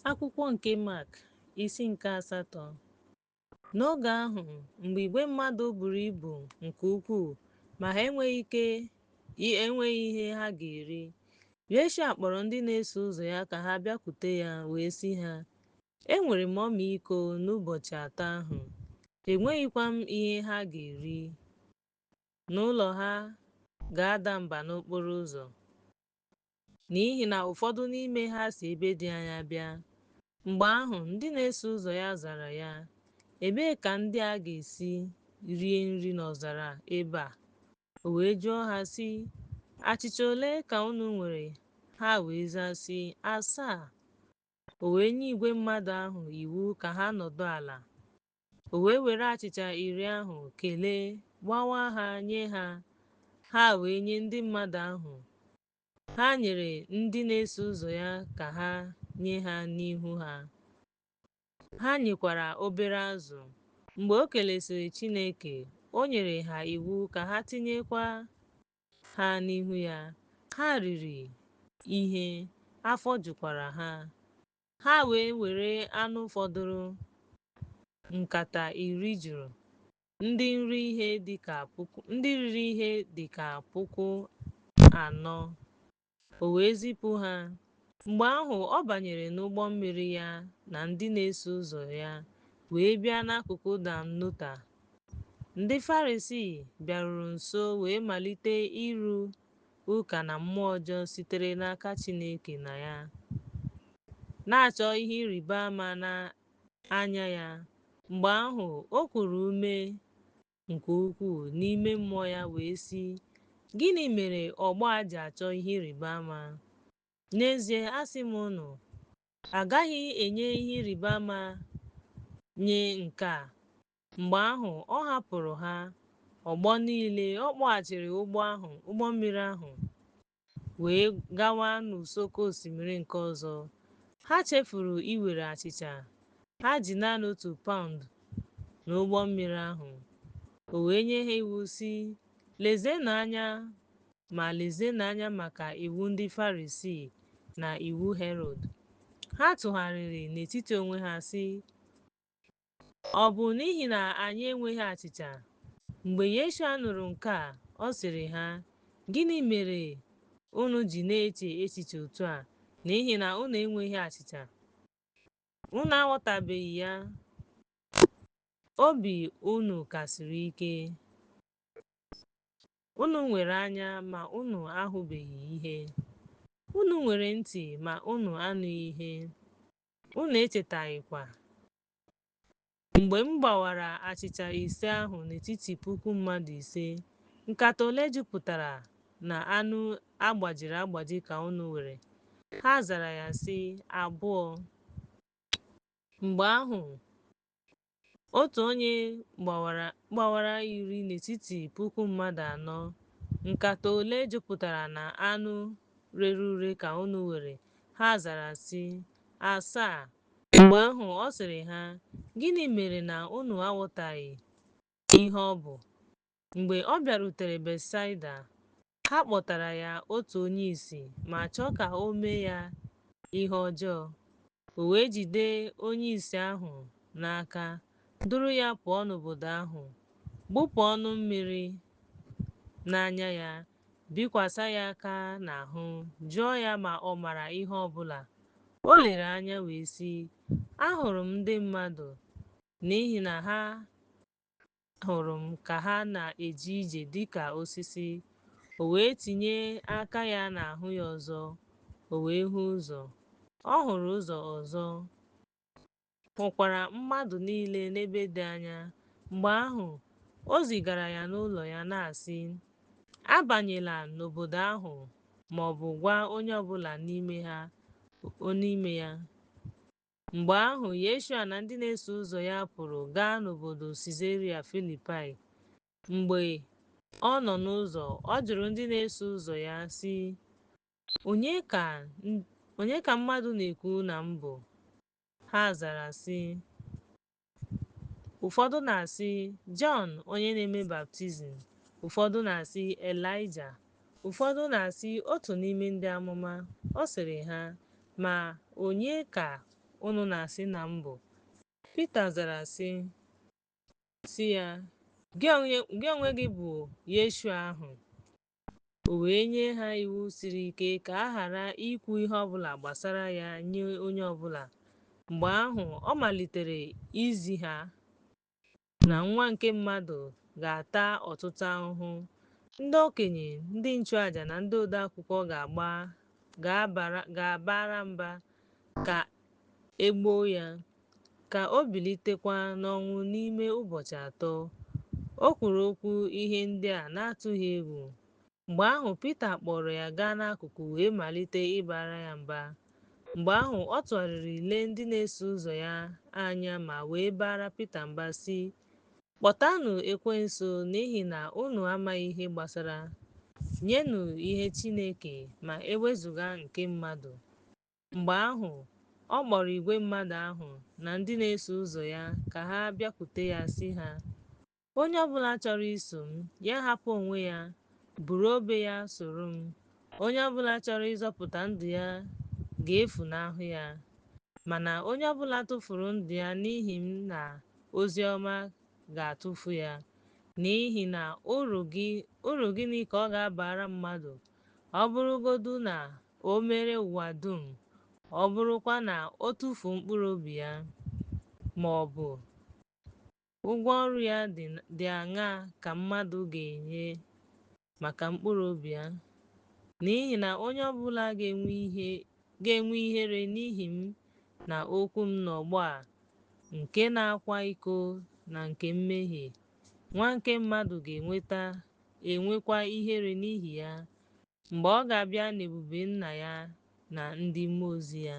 Akwụkwọ nke Mak, isi nke asatọ. N'oge ahụ, mgbe igwe mmadụ buru ibu nke ukwuu ma ha enweghị ihe ha ga-eri, Yeshua kpọrọ ndị na-eso ụzọ ya ka ha bịakwute ya wee sị ha, Enwere m ọmịiko n'ụbọchị atọ ahụ, enweghịkwa m ihe ha ga-eri. N'ụlọ ha ga-ada mba n'okporo ụzọ. n'ihi na ụfọdụ n'ime ha si ebe dị anya bịa. Mgbe ahụ, ndị na-eso ụzọ ya zara ya, Ebee ka ndị a ga-esi rie nri n'ọzara ebe a? O wee jụọ ha, sị, Achịcha ole ka unu nwere? Ha wee zaa, sị, Asaa. O wee nye igwe mmadụ ahụ iwu ka ha nọdụ ala. O wee were achịcha iri ahụ kelee, gbawaa ha nye ha, ha wee nye ndị mmadụ ahụ. Ha nyere ndị na-eso ụzọ ya ka ha nye ha n'ihu ha. Ha nyekwara obere azụ. Mgbe o kelesịrị Chineke, o nyere ha iwu ka ha tinyekwa ha n'ihu ya. Ha riri ihe, afọ jukwara ha. Ha wee were anụ fọdụrụ nkata iri juru ndị riri ihe dị ka puku anọ o wee zipụ ha mgbe ahụ ọ banyere n'ụgbọ mmiri ya na ndị na-eso ụzọ ya wee bịa n'akụkụ dalmanuta ndị farisii bịaruru nso wee malite ịrụ ụka na mmụọ ọjọọ sitere n'aka Chineke na ya, na-achọ ihe ịrịba ama na anya ya, mgbe ahụ o kuru ume nke ukwuu n'ime mmụọ ya wee sị, Gịnị mere ọgbọ a ji achọ ihe ịrịba ama? N'ezie, asị m unu, a gaghị enye ihe ịrịba ama nye nke a Mgbe ahụ, ọ hapụrụ ha, ọgbọ niile, ọ kpọghachiri ụgbọ ahụ, ụgbọ mmiri ahụ, wee gawa n'ụsọ oke osimiri nke ọzọ. Ha chefuru iwere achịcha ha ji naanị otu paụnd n'ụgbọ mmiri ahụ. O wee nye ha iwu, sị, Lezienụ anya, ma lezienụ anya maka iwu ndị Farisii na iwu Herọd. Ha tụgharịrị n'etiti onwe ha, sị, Ọ bụ n'ihi na anyị enweghị achịcha. Mgbe Yeshua nụrụ nke a, ọ sịrị ha, Gịnị mere unu ji na-eche echiche otu a n'ihi na unu enweghị achịcha? Unu aghọtabeghị ya? Obi unu ka siri ike. Unu nwere anya ma unu ahụbeghị ihe. Unu nwere ntị ma unu anụghị ihe. Unu echetaghịkwa mgbe m gbawara achịcha ise ahụ n'etiti puku mmadụ ise? Nkata ole jupụtara na anụ a gbajiri agbaji ka unu were? Ha zara ya sị, Abụọ. Mgbe ahụ, Otu onye gbawara iri n'etiti puku mmadụ anọ, Nkata ole jupụtara na anụ rere ure ka unu were? Ha zara sị, Asaa. Mgbe ahụ ọ sịrị ha, Gịnị mere na unu aghọtaghị ihe ọ bụ? Mgbe ọ bịarutere Betsaida, Ha kpọtara ya otu onye ìsì ma chọọ ka o mee ya ihe ọjọọ. O wee jide onye ìsì ahụ n'aka, duru ya pụọ n'obodo ahụ, gbụpụ ọnụ mmiri n'anya ya, bikwasa ya aka n'ahụ, jụọ ya ma ọ mara ihe ọ bụla. O lere anya wee sị, Ahụrụ m ndị mmadụ n'ihi na ha Ahụrụ m ka ha na-eje ije dị ka osisi. O wee tinye aka ya n'ahụ ya ọzọ, o wee hụ ụzọ. Ọ hụrụ ụzọ ọzọ, hụkwara mmadụ niile n'ebe dị anya. Mgbe ahụ, o zigara ya n'ụlọ ya, na-asị, Abanyela n'obodo ahụ ma ọ bụ gwa onye ọ bụla n'ime ha, n'ime ya. Mgbe ahụ, Yeshua na ndị na-eso ụzọ ya pụrụ gaa n'obodo Sizaria Filipaị. Mgbe ọ nọ n'ụzọ, ọ jụrụ ndị na-eso ụzọ ya, sị, Onye ka mmadụ na-ekwu na m bụ? Ha zara, sị, Ụfọdụ na-asị, Jọn onye na-eme baptizim, ụfọdụ na-asị, Elaịja, ụfọdụ na-asị, otu n'ime ndị amụma. Ọ sịrị ha, Ma onye ka unu na-asị na m bụ? Pita zara sị, sị ya, Gị onwe gị bụ Yeshua ahụ, O wee nye ha iwu siri ike ka a ghara ikwu ihe ọ bụla gbasara ya nye onye ọ bụla. Mgbe ahụ, ọ malitere izi ha na Nwa nke Mmadụ ga-ata ọtụtụ ahụhụ. Ndị okenye, ndị nchụaja, na ndị odeakwụkwọ ga-abara mba ka e gbuo ya. Ka o bilitekwa n'ọnwụ n'ime ụbọchị atọ. O kwuru okwu ihe ndị a na-atụghị egwu. Mgbe ahụ, Pita kpọọrọ ya gaa n'akụkụ wee malite ịbara ya mba. Mgbe ahụ, ọ tụgharịrị lee ndị na-eso ụzọ ya anya ma wee baara Pita mba, sị, Kpọtanụ Ekwensu n'ihi na unu amaghị ihe gbasara. Nyenụ ihe Chineke ma e wezụga nke mmadụ. Mgbe ahụ, ọ kpọrọ igwe mmadụ ahụ na ndị na-eso ụzọ ya ka ha bịakwute ya sị ha, Onye ọbụla chọrọ iso m, ya hapụ onwe ya, buru obe ya soro m. Onye ọbụla chọrọ ịzọpụta ndụ ya ga-efunahụ ya. Mana onye ọbụla tụfuru ndụ ya n'ihi m na ozi ọma ga-atụfu ya. N'ihi na uru gịnị ka ọ ga-abara mmadụ ọ bụrụgodu na o mere ụwa dum, ọ bụrụkwa na o tufuo mkpụrụ obi ya, ma ọ bụ ụgwọ ọrụ ya dị aṅaa ka mmadụ ga-enye maka mkpụrụ obi ya? N'ihi na onye ọbụla ga-enwe ihere n'ihi m na okwu m n'ọgbọ a nke na-akwa iko na nke mmehie, Nwa nke mmadụ ga-enweta enwekwa ihere n'ihi ya, mgbe ọ ga-abịa n'ebube Nna ya na ndị mmụọ ozi ya.